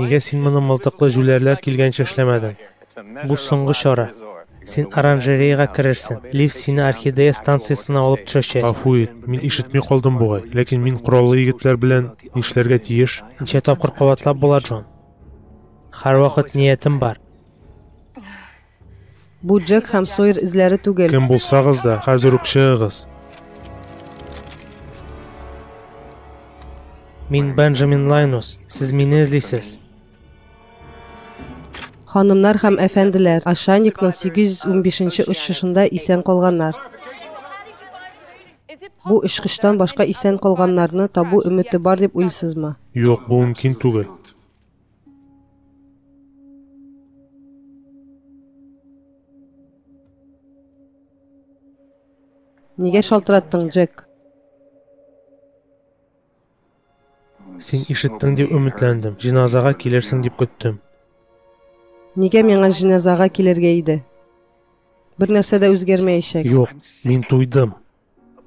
Нигә син моны мылтыклы җүләрләр килгәнче эшләмәдең? Бу соңгы чара. Син оранжереяга керерсең. Лифт сине Орхидея станциясенә алып төшәчәк. Гафу ит, мин ишетми калдым бугай. Ләкин мин кораллы егетләр белән нишләргә тиеш? Ничә тапкыр кабатлап була, Джон? Һәрвакыт ниятем бар. Бу Джек һәм Сойер эзләре түгел. Кем булсагыз да, хәзер үк чыгыгыз. Мин Бенджамин Лайнус. Сез мине эзлисез. Ханымнар һәм әфәнделәр, Ашаникның 815-нче очышында исән калганнар. Бу очкычтан башка исән калганнарны табу өмете бар дип уйлыйсызмы? Юк, бу мөмкин түгел. Нигә шалтыраттың, Джек? Син ишеттең дип өметләндем. Җиназага килерсең дип көттем. Нигә миңа җиназага килергә иде? Бер нәрсә дә үзгәрмәячәк. Юк, мин туйдым.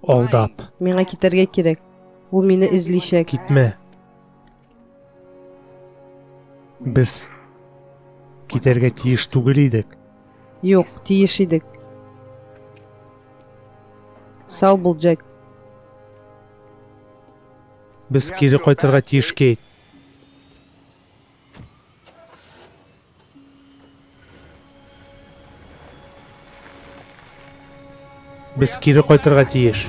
Алдап. Миңа китәргә кирәк. Ул мине эзличәк. Китмә. Без китәргә тиеш түгел идек. Юк, тиеш идек. Сау бул, Джек. Без кире кайтырга тиеш, Кейт. Без кире кайтырга тиеш.